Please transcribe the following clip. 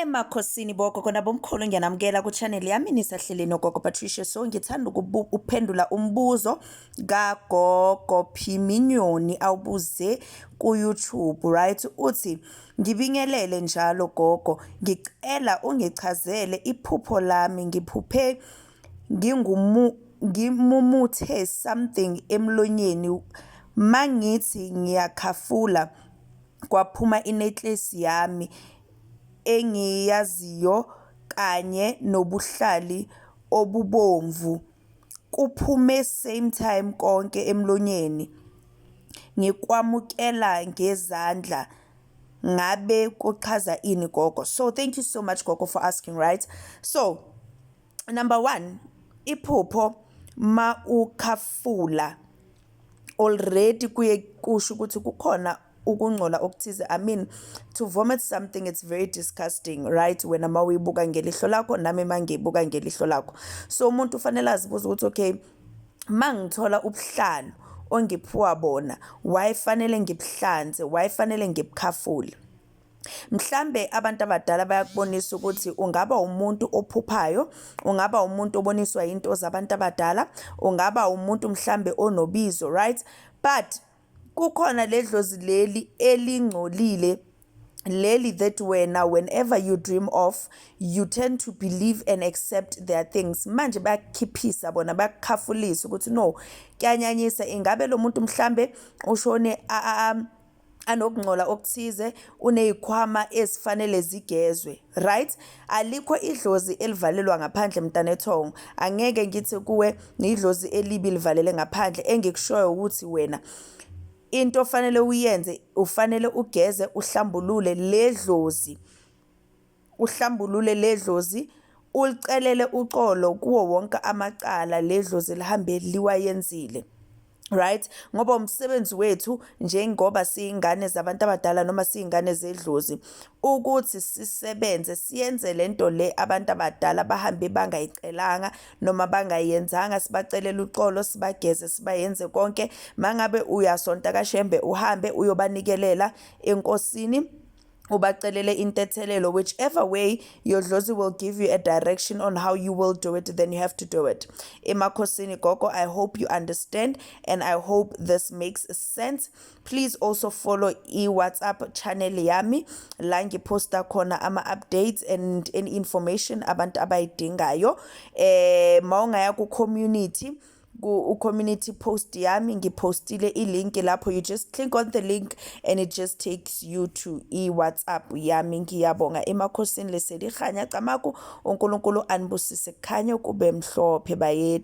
Emakhosini bogogo nabomkhulu ngiyanamukela ku-channel yami nisahleleni ogogo Patricia so ngithanda ukuphendula umbuzo kagogo Phiminyoni awubuze ku-YouTube right uthi ngibingelele njalo gogo ngicela ungichazele iphupho lami ngiphuphe ngingumu ngimumuthe something emlonyeni mangithi ngiyakhafula kwaphuma inecklace yami engiyaziyo kanye nobuhlali obubomvu kuphume same time konke emlonyeni ngikwamukela ngezandla ngabe kuchaza ini gogo so thank you so much gogo for asking right so number one iphupho ma ukhafula already kuye kusho ukuthi kukhona ukungcola okuthize i mean to vomit something it's very disgusting right wena uma uyibuka ngelihlo lakho nami uma ngiyibuka ngelihlo lakho so umuntu ufanele azibuze ukuthi okay uma ngithola ubuhlalo ongiphiwa bona wayefanele ngibuhlanze wayefanele ngibukhafule mhlambe abantu abadala bayakubonisa ukuthi ungaba umuntu ophuphayo ungaba umuntu oboniswa into zabantu abadala ungaba umuntu mhlambe onobizo right but kukhona ledlozi leli elingcolile leli that wena whenever you dream of you tend to believe and accept their things manje bayakukhiphisa bona bayakukhafulisa ukuthi no kuyanyanyisa ingabe lo muntu mhlambe ushone anokungcola okuthize unezikhwama ezifanele zigezwe right alikho idlozi elivalelwa ngaphandle mntanethongo angeke ngithi kuwe ngidlozi elibi livalele ngaphandle engikushoyo ukuthi wena into ofanele uyenze ufanele ugeze uhlambulule ledlozi uhlambulule ledlozi ulicelele uxolo kuwo wonke amacala ledlozi lihambe liwayenzile right ngoba umsebenzi wethu njengoba siyingane zabantu abadala noma siyingane zedlozi ukuthi sisebenze siyenze lento le abantu abadala bahambe bangayicelanga noma bangayenzanga sibacelela uxolo sibageze sibayenze konke mangabe uyasonta kashembe uhambe uyobanikelela enkosini ubacelele intethelelo whichever way your dlozi will give you a direction on how you will do it then you have to do it emakhosini gogo i hope you understand and i hope this makes sense please also follow i-whatsapp channel yami la ngiphosta khona ama-updates and any information abantu abayidingayo um eh, ma ungaya ku-community ku-community post yami ngiphostile i-link lapho you just click on the link and it just takes you to i-whatsapp yami ngiyabonga emakhosini leselihanya camaku unkulunkulu anibusise kukhanye kube mhlophe bayede